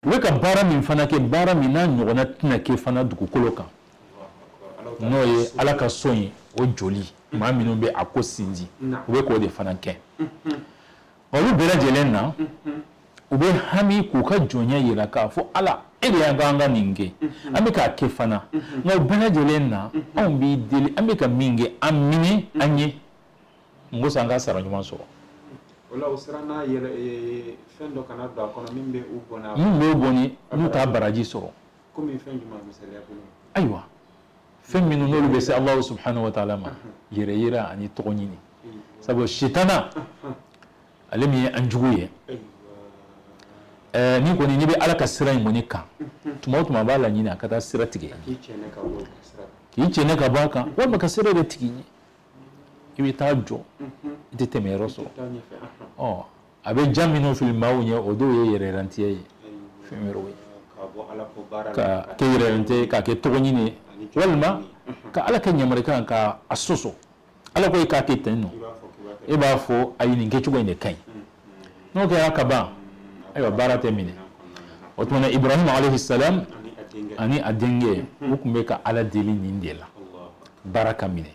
u bɛ ka baara min fana kɛ baara min n'a ɲɔgɔnna tɛna kɛ fana dugukolo kan n'o ye ala ka so ye o jɔli maa minnu bɛ a ko sinji u bɛ k'o de fana kɛ olu bɛɛ lajɛlen na u bɛ hami k'u ka jɔnya yira k'a fɔ ala e de y'an k'an ka nin kɛ an bɛ k'a kɛ fana nka o bɛɛ lajɛlen na anw b'i deli an bɛ ka min kɛ a minɛ an ye ko sa an ka sara ɲuman sɔrɔ o la u siranna yɛrɛ ee, fɛn dɔ kana don a kɔnɔ min bɛ u bɔnɛ min b'u bɔnɛ n'u t'a baraji sɔrɔ komi fɛn jumɛn misaliya bolo ayiwa fɛn minnu n'olu bɛ se alahu subhanahu wa taala ma yɛrɛ yira ani tɔgɔ ɲini sabu sitana ale min ye an jugu ye Eh, ni kɔni n'i bɛ ala ka sira in kɔni kan tuma o tuma a b'a laɲini a ka taa sira tigɛ k'i cɛɛnɛ ka bɔ a kan walima ka sira datugu i ɲɛ i bɛ taa jɔ i tɛ tɛmɛ yɔrɔ sɔrɔ ɔ a bɛ jan minnu fili maaw ɲɛ o dɔw ye yɛrɛyirantiya ye fɛn wɛrɛw ye k'a kɛ yɛrɛyirantiya ye k'a kɛ tɔgɔ ɲini ye walima ka ala ka yamarikan ka a sɔsɔ ala ko e k'a kɛ ten nɔ e b'a fɔ ayi nin kɛcogo in de ka ɲi n'o kɛra ka ban ayiwa baara tɛ minɛ o tuma na ibrahima alayhi salam ani a denkɛ u tun bɛ ka ala deli nin de la baara ka minɛ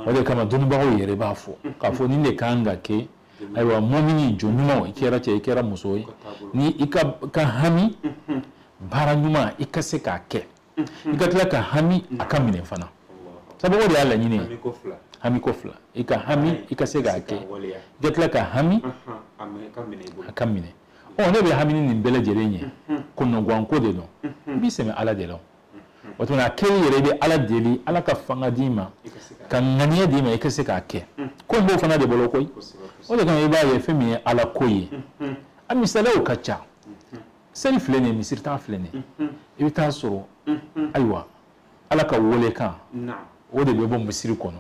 o de kama dɔnnibagaw yɛrɛ b'a fɔ k'a fɔ nin de kan ka kɛ ayiwa muumini jɔn ɲuman i kɛra cɛ i kɛra muso ye ni i ka hami baara ɲuman i ka se k'a kɛ i ka tila ka hami a ka minɛ fana sabu o de y'a laɲini ye hami ko fila i ka hami i ka se k'a kɛ i ka tila ka hami a ka minɛ ɔ ne bɛ hamini nin bɛɛ lajɛlen ye kɔnɔguwanko de don i b'i sɛmɛ ala de la o tuma a kɛli yɛrɛ i bɛ ala deli ala ka fanga d'i ma ka ŋaniya d'i ma i ka se k'a kɛ ko in b'o fana de bolo koyi o de kama i b'a ye fɛn min ye ala ko ye a misaliyaw ka ca seli filɛ nin ye misiri da filɛ nin ye i bɛ taa sɔrɔ ayiwa ala ka weelekan o de bɛ bɔ misiri kɔnɔ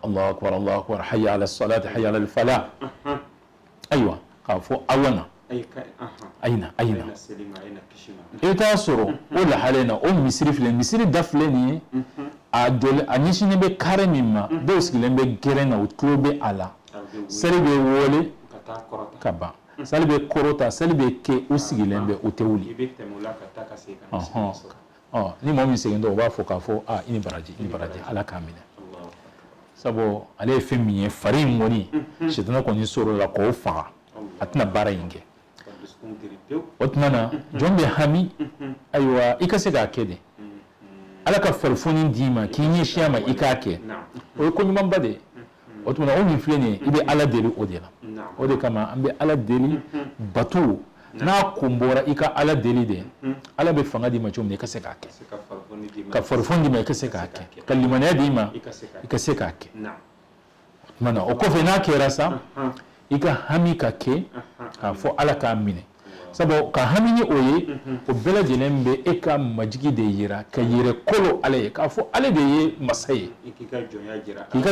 alahu akbar alahu akbar hayya ala salati hayya ala fala ayiwa k'a fɔ aw na a ye na a ye na i bɛ taa sɔrɔ o lahala in na o misiri filɛ misiri da filɛ nin ye a jɔli a ɲɛsinnen bɛ kare min ma dɔw sigilen bɛ gɛrɛn na u tulo bɛ a la seli bɛ wele ka ban sali bɛ kɔrɔta sali bɛ kɛ u sigilen bɛ u tɛ wuli ni mɔgɔ min segintɔ u b'a fɔ k'a fɔ aa i ni baraji i ni baraji ala k'a minɛ sabu ale ye fɛn min ye fari in kɔni sitana kɔni sɔrɔla k'o faga a tɛna baara in kɛ o tuma na jɔn bɛ hami ayiwa i ka se k'a kɛ de ala ka farifoni d'i ma k'i ɲɛsin a ma i k'a kɛ o ye ko ɲumanba de ye o tuma na o min filɛ nin ye i bɛ ala deli o de la o de kama an bɛ ala deli bato n'a kun bɔra i ka ala deli de ala bɛ fanga d'i ma cogo min i ka se k'a kɛ ka farifoni d'i ma i ka se k'a kɛ ka limaniya d'i ma i ka se k'a kɛ o tuma na o kɔfɛ n'a kɛra sa i ka hami ka kɛ k'a fɔ ala k'a minɛ sabu ka hami ni o ye o bɛɛ lajɛlen bɛ e ka majigi de yira ka yɛrɛ kolo ala ye k'a fɔ ale de ye masa ye k'i ka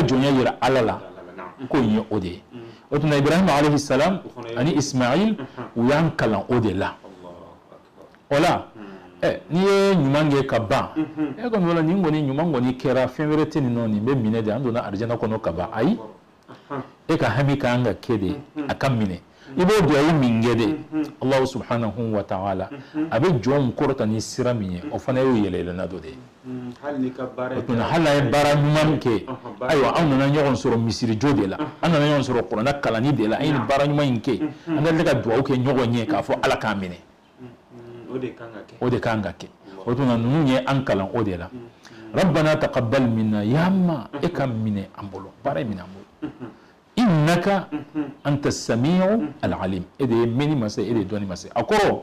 jɔnya yira ala la ko in ye o de ye o tuma ibrahima alayhi salam ani ismail u y'an kalan o de la o la ɛ n'i ye ɲuman kɛ ka ban e kɔni o la nin kɔni ɲuman kɔni kɛra fɛn wɛrɛ tɛ nin nɔ nin bɛ minɛ de an donna arijana kɔnɔ ka ban ayi e ka hami ka kan ka kɛ de a ka minɛ i b'o duwawu min kɛ de allahu subhanahu wa ta'ala a bɛ jɔnw kɔrɔta ni sira min ye o fana y'o yɛlɛyɛlɛnna dɔ de ye o tuma hali n'an ye baara ɲuman kɛ ayiwa an nana ɲɔgɔn sɔrɔ misirijɔ de la an nana ɲɔgɔn sɔrɔ kurana kalanni de la an ye nin baara ɲuman in kɛ an ka tila ka duwawu kɛ ɲɔgɔn ye k'a fɔ ala k'a minɛ o de kan ka kɛ o tuma na ninnu ye an kalan o de la rabbana taqabbal minna ya ma e k'a minɛ an bolo baara in minɛ an bolo innaka anta samiu alalim e de ye mɛnni masa ye e de ye dɔnni masa ye a kɔrɔ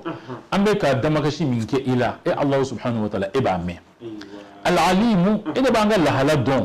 an bɛ ka damakasi min kɛ i la e allahu subhanahu wa taala e b'a mɛn alalimu e de b'an ka lahala dɔn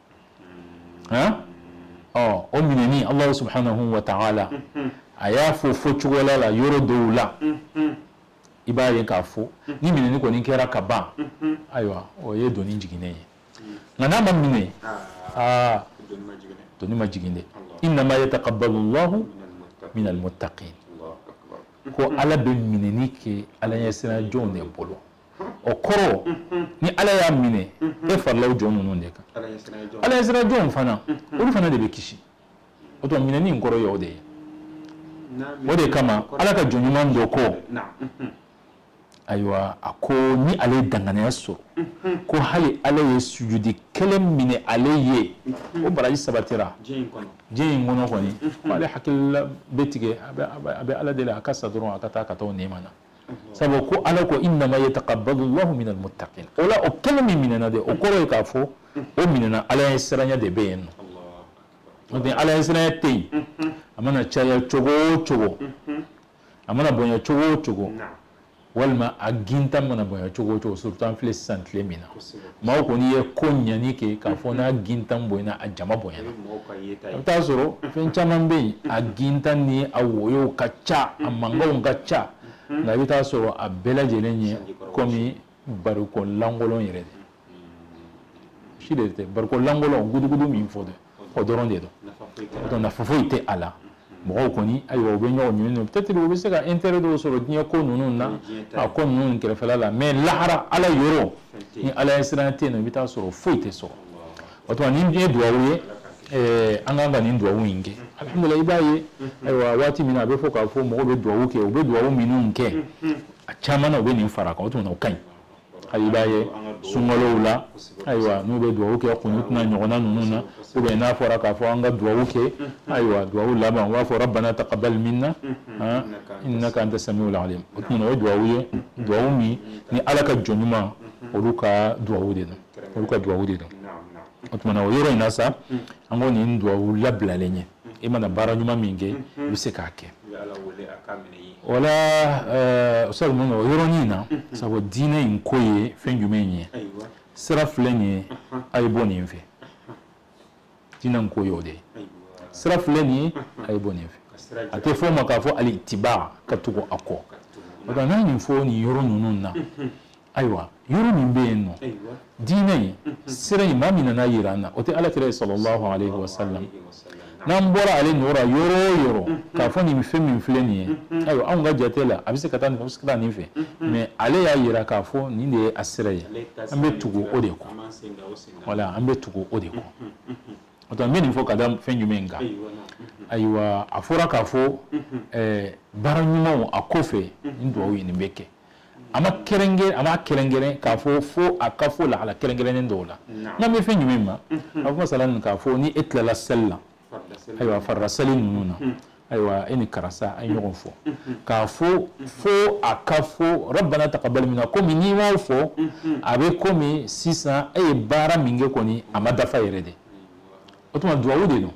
ɔ o minɛni allahu subhanahu wa ta'ala a y'a fɔ fɔ cogoya la yɔrɔ dɔw la i b'a ye k'a fɔ ni minɛni kɔni kɛra ka ban ayiwa o ye doni jiginnen ye nka n'a ma minɛ aa doni ma jigin dɛ innama yataqabbalu llahu min almuttaqin ko ala bɛ minɛni kɛ ala ɲɛsiranjɔnw de bolo o kɔrɔ ni ala y'a minɛ e farala o jɔn ninnu de kan ala ɲɛsiranjɔnw fana olu fana de bɛ kisi o tuma minɛni in kɔrɔ ye o de ye o de kama ala ka jɔn ɲuman dɔ ko ayiwa a ko ni ale ye danganiya sɔrɔ ko hali ala ye sujudi kelen minɛ ale ye o baraji sabatira diɲɛ in kɔnɔ kɔni ale hakilila bɛ tigɛ a bɛ ala deli a ka sa dɔrɔn a ka taa ka taa o nɛɛma na sabu ko ala ko innama yataqabbalu llahu min almuttaqin o la o kelen min minɛna de o kɔrɔ ye k'a fɔ o minɛna ala ɲɛsiranya de bɛ yen nɔ n'o tɛ ala ɲɛsiranya tɛ yen a mana caya cogo o cogo a mana bonya cogo o cogo walima a gintan mana bonya cogo o cogo surtout an filɛ sisan tile min na maaw kɔni ye koɲa nin kɛ k'a fɔ n'a gintan bonyana a jama bonyana a bɛ taa sɔrɔ fɛn caman bɛ yen a gintan ni a woyow ka ca a mankanw ka ca nka i bɛ taa sɔrɔ a bɛɛ lajɛlen ye kɔmi barikon lankolon yɛrɛ de si de tɛ barikon lankolon gudugudu min fɔ dɛ o dɔrɔn de don donc nafa foyi tɛ a la mɔgɔw kɔni ayiwa u bɛ ɲɔgɔn ɲini don peut-être u bɛ se ka intérêt dɔw sɔrɔ diɲɛ ko ninnu na a ko ninnu kɛrɛfɛla la mais lahara ala yɔrɔ ni ala ɲɛsiranya tɛ yen nɔ i bɛ taa sɔrɔ foyi tɛ sɔrɔ o tuma nin ye duwawu ye eh, an kan ka nin duwawu in kɛ alhamdulilayi i b'a ye ayiwa waati min na a bɛ fɔ k'a fɔ mɔgɔw bɛ duwawu kɛ u bɛ duwawu minnu kɛ a caman na u bɛ nin fara a kan o tuma na o ka ɲi hali i b'a ye sunkalow la ayiwa n'u bɛ duwawu kɛ kunutu n'a ɲɔgɔnna ninnu na ou bien n'a fɔra k'a fɔ an ka duwawu kɛ ayiwa duwawu laban u b'a fɔ rabbana taqabbal minna innaka anta samiul alim o tuma na o ye duwawu ye duwawu min ni ala ka jɔn ɲuman olu ka duwawu de don olu ka duwawu de don o tuma na o yɔrɔ in na sa an ko nin duwawu labilalen ye i mana baara ɲuman min kɛ i bɛ se k'a kɛ voilà sabu mun o yɔrɔnin in na sabu diinɛ in ko ye fɛn jumɛn ye sira filɛ nin ye a ye bɔ nin fɛ diinɛ in ko y'o de ye sira filɛ nin ye a ye bɔ nin fɛ a tɛ fɔ o ma k'a fɔ al-ittiba ka tugu a kɔ o la n'a ye nin fɔ nin yɔrɔ ninnu na ayiwa yɔrɔ min bɛ yen nɔ diinɛ in sira in maa min nan'a yira an na o tɛ ala kira ye sallallahu alayhi wa sallam n'an bɔra ale nɔ la yɔrɔ o yɔrɔ k'a fɔ nin fɛn min filɛ nin ye ayiwa anw ka jate la a bɛ se ka taa nin fɛ a bɛ se ka taa nin fɛ mais ale y'a yira k'a fɔ nin de ye a sira ye an bɛ tugu o de kɔ voilà an bɛ tugu o de kɔ o tuma n bɛ nin fɔ ka da fɛn jumɛn kan ayiwa a fɔra k'a fɔ baara ɲumanw a kɔfɛ nin duwawu ye nin bɛ kɛ a ma kɛrɛnkɛrɛn k'a fɔ fo a ka fɔ lahala kɛrɛnkɛrɛnnen dɔw la n kan bɛ fɛn jumɛn ma a fɔ masalan k'a fɔ ni e tilala seli la ayiwa farida seli ninnu na ayiwa e ni karisa a ye ɲɔgɔn fɔ k'a fɔ fo a ka fɔ rabbana taqabbal minna komi n'i m'o fɔ a bɛ komi sisan e ye baara min kɛ kɔni a ma dafa yɛrɛ de o tuma duwawu de don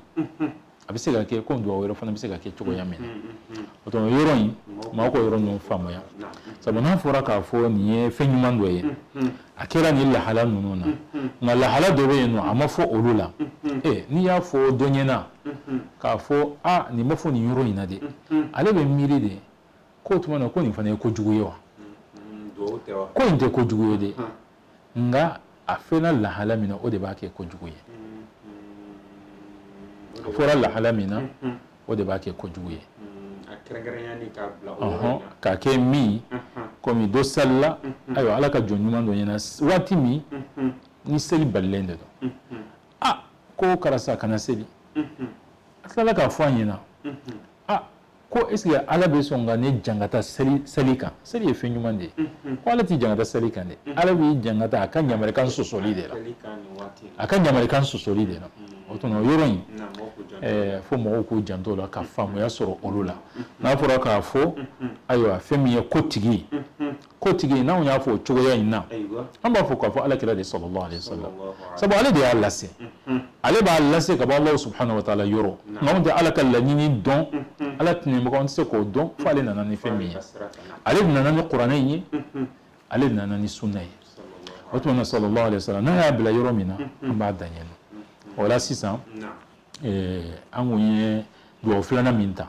a bɛ se ka kɛ ko duwawu wɛrɛ fana bɛ se ka kɛ cogoya min na mm, mm, mm. o tuma yɔrɔ in maaw ka yɔrɔ ninnu faamuya sabu n'a fɔra k'a fɔ nin ye fɛn ɲuman dɔ ye a kɛra nin lahala ninnu na nka lahala dɔ bɛ yen nɔ a ma fɔ olu la ee n'i y'a fɔ dɔ ɲɛ na k'a fɔ a nin ma fɔ nin yɔrɔ in na dɛ ale bɛ miiri de k'o tuma na ko nin fana ye kojugu ye wa ko in tɛ kojugu ye dɛ nka a fɛnna lahala min na o de b'a kɛ kojugu ye a fɔra lahala min na o de b'a kɛ kojugu ye k'a kɛ min komi dɔ salila ayiwa ala ka jɔn ɲuman dɔ ɲɛ na waati min ni seli balilen de don a ko karisa kana seli a tilala k'a fɔ a ɲɛ na ah ko est ce que ala bɛ sɔn ka ne jangata seli kan seli ye fɛn ɲuman de ye mm-hmm. ko ala t'i jangata seli kan dɛ mm-hmm. ala b'i jangata a ka ɲamarikan sɔsɔli de la a ka ɲamarikan sɔsɔli de la mm-hmm. o tuma o yɔrɔ in eh, fo mɔgɔw k'u janto la ka faamuya sɔrɔ olu la n'a fɔra k'a fɔ ayiwa fɛn min ye ko tigi ko tigi n'anw y'a fɔ o cogoya in na an b'a fɔ k'a fɔ ala kira de sallallahu alaihi wasallam sabu ale de y'a lase ale b'a lase ka bɔ alahu subhanahu wa taala yɔrɔ nka anw tɛ ala ka laɲini dɔn ala tɛnɛmɔgɔ an tɛ se k'o dɔn fo ale nana ni fɛn min ye ale nana ni kuranɛ in ye ale nana ni sunna ye o tuma na sallallahu alaihi wasallam n'a y'a bila yɔrɔ min na an b'a dan yen o la sisan an kun ye duwawu filanan min ta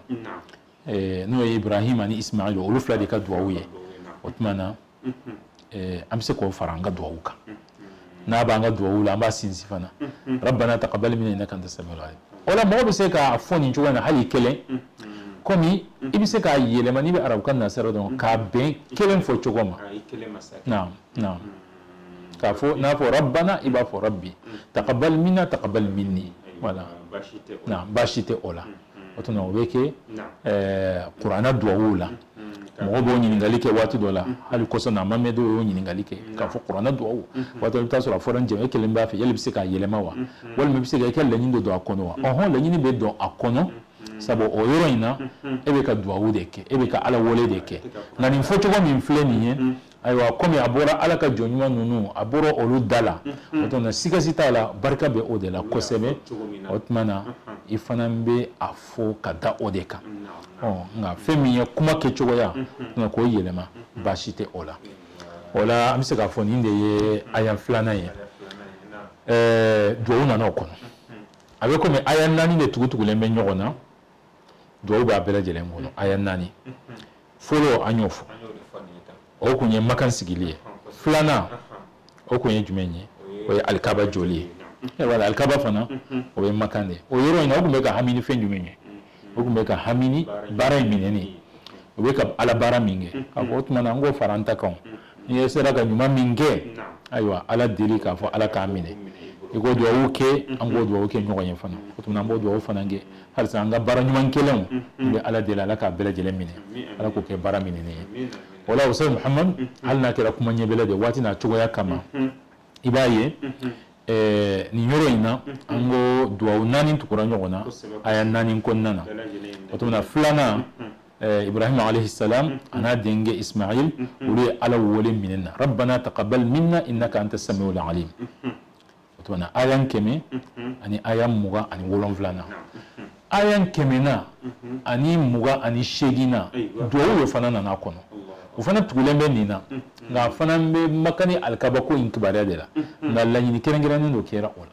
n'o ye ibrahim ani ismail olu fila de ka duwawu ye o tuma na an bɛ se k'o fara an ka duwawu kan n'a b'an ka duwawu la an b'a sinsin fana rabbana taqabbal minna innaka anta samiul alim o la mɔgɔ bɛ se k'a fɔ nin cogoya in na hali kelen komi i bɛ se k'a yɛlɛma n'i bɛ arabukan na sira dɔn k'a bɛn kelen fɔ cogo ma naam naam k'a fɔ n'a fɔ rabbana i b'a fɔ rabbi taqabbal minna taqabbal minni voilà baasi tɛ o la o tuma o bɛ kɛ kuranna duwawu la mɔgɔ b'o ɲininkali kɛ waati dɔ la hali kɔsa in na mamɛ dɔw y'o ɲininkali kɛ k'a fɔ kuranna duwawu waati dɔ i bɛ taa sɔrɔ a fɔra jɛmɛ e kelen b'a fɛ yali i bɛ se k'a yɛlɛma wa walima i bɛ se ka i ka laɲini dɔ don a kɔnɔ wa ɔhɔn laɲini bɛ don a kɔnɔ sabu o yɔrɔ in na e bɛ ka duwawu de kɛ e bɛ ka ala wele de kɛ nka nin fɔcogo min filɛ nin ye ayiwa komi a bɔra ala ka jɔn ɲuman ninnu a bɔra olu da la o tuma sika si t'a la barika bɛ o de la kosɛbɛ o tuma na i fana bɛ a fɔ ka da o de kan nka fɛn min ye kuma kɛcogoya nka k'o yɛlɛma baasi tɛ o la o la an bɛ se k'a fɔ nin de ye aya filanan ye duwawu nana o kɔnɔ a bɛ komi aya naani de tugutugulen bɛ ɲɔgɔn na duwawu b'a bɛɛ lajɛlen kɔnɔ aya naani fɔlɔ an y'o fɔ o kun ye makan sigili ye filanan o kun ye jumɛn ye o ye alikaba joli ye eh, wala alikaba fana o ye makan de ye o yɔrɔ in na o kun bɛ ka hami ni fɛn jumɛn ye o kun bɛ ka hami ni baara in minɛni o bɛ ka ala baara min kɛ k'a fɔ o tuma na an k'o fara an ta kan n'i sera ka ɲuman min kɛ ayiwa ala deli k'a fɔ ala k'a minɛ i k'o duwawu kɛ an k'o duwawu kɛ ɲɔgɔn ye fana o tuma an b'o duwawu fana kɛ halisa an ka baara ɲuman kɛlenw n bɛ ala deli ala k'a bɛɛ lajɛlen minɛ ala k'o kɛ baara minɛnen ye o la ustaz muhamadu hali n'a kɛra kuma ɲɛbila de waati n'a cogoya kama i b'a ye nin yɔrɔ in na an ko duwawu naani tugura ɲɔgɔn na aya naani kɔnɔna na o tuma filanan Eh, ibrahima alayhi salam mm, mm. an'a denkɛ ismail mm, olu ye ala wele minnu na rabbana taqabbal minna innaka anta samiul alim o tuma na aya kɛmɛ ani aya mugan ani wolonwula na aya kɛmɛ na ani mugan ani seegin na duwawu de fana nana kɔnɔ o fana tugulen bɛ nin na nka a fana bɛ makan ni alikaba ko in kibaruya de la nka laɲini kɛrɛnkɛrɛnnen dɔ kɛra o la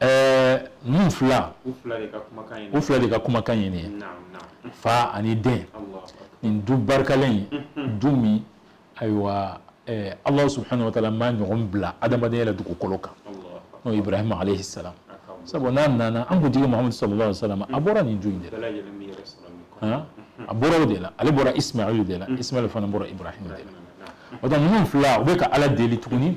ɛɛ ninnu fila u fila de ka kumakan ye nin ye fa ani den nin du barikalen ye mhm. du min ayiwa ɛɛ alahu subahana wa taala m'a ɲɔgɔn bila adamadenya la dugukolo kan n'o ye ibrahima alayhi salam sabu n'a nana an kuntigi mahamadu sallallahu alaihi wa sallam a bɔra nin du in de la a bɔra o de la ale bɔra ismail de la ismail fana bɔra ibrahim de la o tuma ninnu fila u bɛ ka ala deli tuguni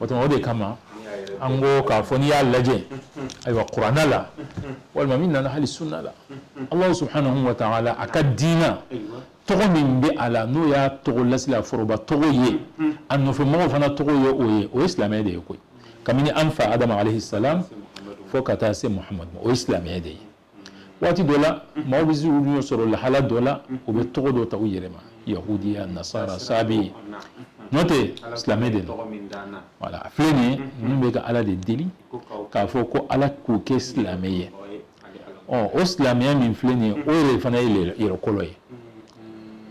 o tuma o de kama an ko k'a fɔ n'i y'a lajɛ ayiwa kuranɛ la walima min nana hali sunna la alahu subhanahu wa taala a ka diina tɔgɔ min bɛ a la n'o y'a tɔgɔ lasila foroba tɔgɔ ye a nɔfɛ mɔgɔw fana tɔgɔ ye o ye o ye silamɛya de ye koyi kabini an fa adama alayhi salam fo ka taa se muhamadu ma o ye silamɛya de ye waati dɔ la maaw bɛ se u ɲɛ sɔrɔ lahala dɔ la u bɛ tɔgɔ dɔ ta u yɛrɛ ma yahudiya nasara sabi n'o tɛ silamɛ de don wala a filɛ nin ye ninnu bɛ ka ala de deli k'a fɔ ko ala k'u kɛ silamɛ ye ɔ o silamɛya min filɛ nin ye o yɛrɛ fana ye yɛrɛ kolo ye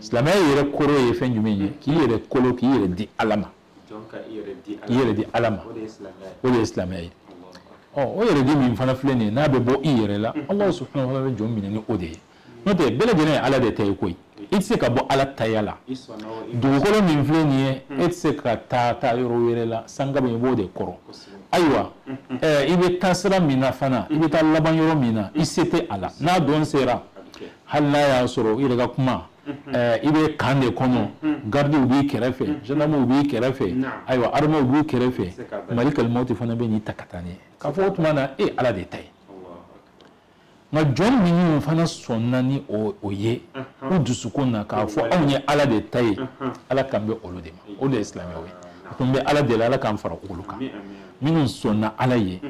silamɛya yɛrɛ kɔrɔ ye fɛn jumɛn ye k'i yɛrɛ kolo k'i yɛrɛ di ala ma i yɛrɛ di ala ma o de ye silamɛya ye ɔ o yɛrɛ di min fana filɛ nin ye n'a bɛ bɔ i yɛrɛ la ala subhanahu wa taala bɛ jɔn minɛ ni o de ye n'o tɛ bɛɛ lajɛlen ye ala de ta ye koyi i tɛ se ka bɔ ala taya la dugukolo min filɛ nin ye e tɛ se ka taa taa yɔrɔ wɛrɛ la sankaba i b'o de kɔrɔ ayiwa i bɛ taa sira min na fana i bɛ taa laban yɔrɔ min na i se tɛ a la n'a don sera hali n'a y'a sɔrɔ i yɛrɛ ka kuma i bɛ kan de kɔnɔ garidiw b'i kɛrɛfɛ zandaramuw b'i kɛrɛfɛ ayiwa armɛw b'i kɛrɛfɛ malikal mawti fana bɛ n'i ta ka taa n'i ye k'a fɔ o tuma na e ala de ta ye nka jɔn minnu fana sɔnna ni o ye u dusukun na k'a fɔ anw ye ala de ta ye ala kan bɛ olu de ma o de ye silamɛw ye o tuma an bɛ ala deli ala k'an fara olu kan minnu sɔnna ala ye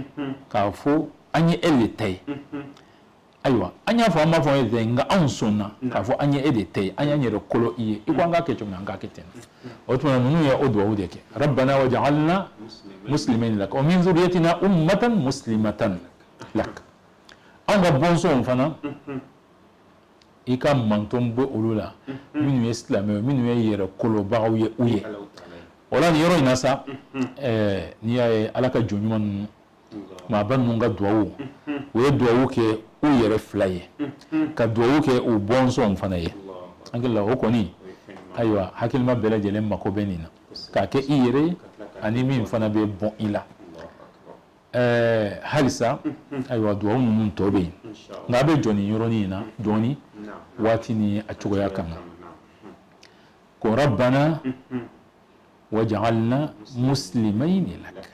k'a fɔ an ye e de ta ye ayiwa an y'a fɔ an m'a fɔ e ta ye nka anw sɔnna k'a fɔ an ye e de ta ye an y'an yɛrɛ kolo i ye i ko an k'a kɛ cogo min an k'a kɛ ten o tuma ninnu ye o duwawu de kɛ rabbana waj'alna muslimayni lak wa min zuriyatina ummatan muslimatan lak anw ka bɔnsɔnw fana i ka manton bɔ olu la minnu ye silamɛw ye minnu ye yɛrɛ kolobagaw ye u ye o la nin yɔrɔ in na sa n'i y'a ye ala ka jɔn ɲuman ninnu maaba ninnu ka duwawu u ye duwawu kɛ u yɛrɛ fila ye ka duwawu kɛ u bɔnsɔnw fana ye an hakili la o kɔni ayiwa hakilima bɛɛ lajɛlen mako bɛ nin na k'a kɛ i yɛrɛ ye ani min fana bɛ bɔn i la ɛɛ halisa ayiwa duwawu ninnu tɔ bɛ yen nka an bɛ jɔ nin yɔrɔnin in na dɔɔni waati ni a cogoya kama ko rabbana wajalna muslimayni lak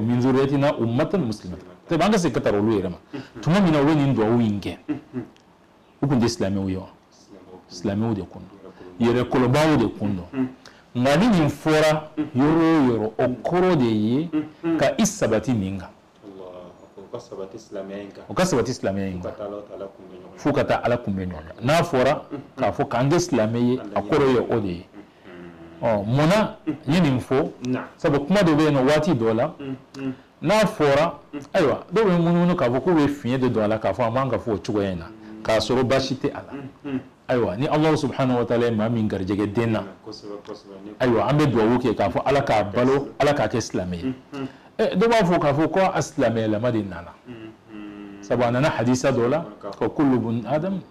min zuriyatina ummatan muslimatan tɛ an ka se ka tara olu yɛrɛ ma tuma min na u bɛ nin duwawu in kɛ u tun tɛ silamɛw ye wa silamɛw de kun don yɛrɛ kolobaw de kun don nka ni nin fɔra yɔrɔ o yɔrɔ o kɔrɔ de ye ka i sabati nin kan u ka sabati silamɛya in kan fo ka taa ala kunbɛn ɲɔgɔnya n'a fɔra k'a fɔ k'an kɛ silamɛ ye a kɔrɔ ye o de ye mun na n ye nin fɔ sabu kuma dɔ bɛ yen n'o waati dɔ la n'a fɔra ayiwa dɔw bɛ munumunu k'a fɔ k'u bɛ fiɲɛ de don a la k'a fɔ a man ka fɔ o cogoya in na k'a sɔrɔ baasi tɛ a la ayiwa ni alahu subhanahu wa taala ye maa min garijɛgɛ den na ayiwa an bɛ dugawu kɛ k'a fɔ ala k'a balo ala k'a kɛ silamɛ ye dɔw b'a fɔ k'a fɔ ko a silamɛyalama de nana sabu a nana hadisa dɔ la ko kullu bun adamu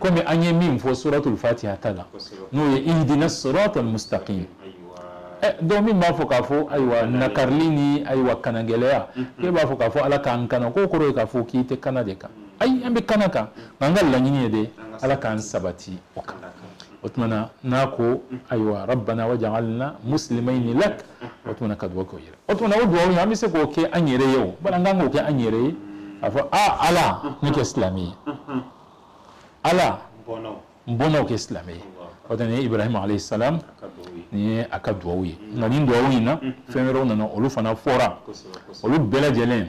kɔmi an ye min fɔ suratul fatiha ta la n'o ye ihdina siratal mustaqim eh, dɔw min b'a fɔ k'a fɔ ayiwa nakarili ni ayiwa kanagɛlɛya k'e b'a fɔ k'a fɔ ala k'an kana k'o kɔrɔ ye k'a fɔ k'i tɛ kana de kan ayi an bɛ kana kan nka an ka laɲini ye de ala k'an sabati o kan o tuma na n'a ko ayiwa rabbana wajalna muslimayni lak o tuma na ka dugawu kɛ u yɛrɛ o tuma na o duwawu in an bɛ se k'o kɛ an yɛrɛ ye o bari an ka kan k'o kɛ an yɛrɛ ye k'a fɔ aa ala ne kɛ silamɛ ye ala n bɔnnaw kɛ silamɛ ye o tɛ nin ye ibrahima alayhi salam nin ye a ka duwawu ye nka nin duwawu in na fɛn wɛrɛw nana olu fana fɔra olu bɛɛ lajɛlen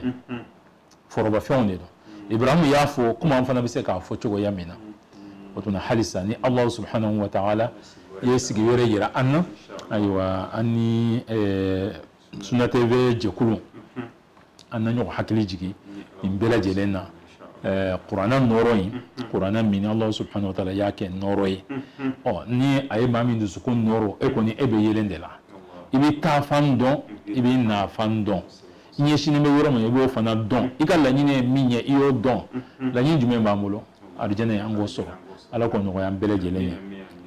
forobafɛnw de don ibrahimu y'a fɔ komi an fana bɛ se k'a fɔ cogoya min na o tuma halisa ni alahu subhanahu wa taala ye sigi wɛrɛ yira an na ayiwa an ni suna tv jɛkulu an na ɲɔgɔn hakili jigin nin bɛɛ lajɛlen na kuranna nɔɔrɔ in kuranna min alahu subhanahu wa taala y'a kɛ nɔɔrɔ ye ɔ ni a ye maa min dusukun nɔɔrɔ e kɔni e bɛ yelen de la i bɛ taafan dɔn i bɛ nafan dɔn i ɲɛsinnen bɛ yɔrɔ min i b'o fana dɔn i ka laɲini ye min ye i y'o dɔn laɲini jumɛn b'an bolo arijɛnɛ ye an k'o sɔrɔ ala k'o nɔgɔya an bɛɛ lajɛlen ye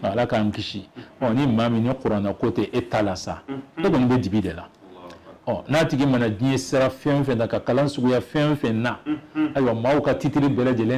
ala k'an kisi ɔ ni maa min ni kuranna ko tɛ e ta la sa o kɔni bɛ dibi de la ɔ n'a tigi mana diɲɛ sira fɛn o fɛn na ka kalan suguya fɛn o fɛn na ayiwa maaw ka titiri bɛɛ lajɛlen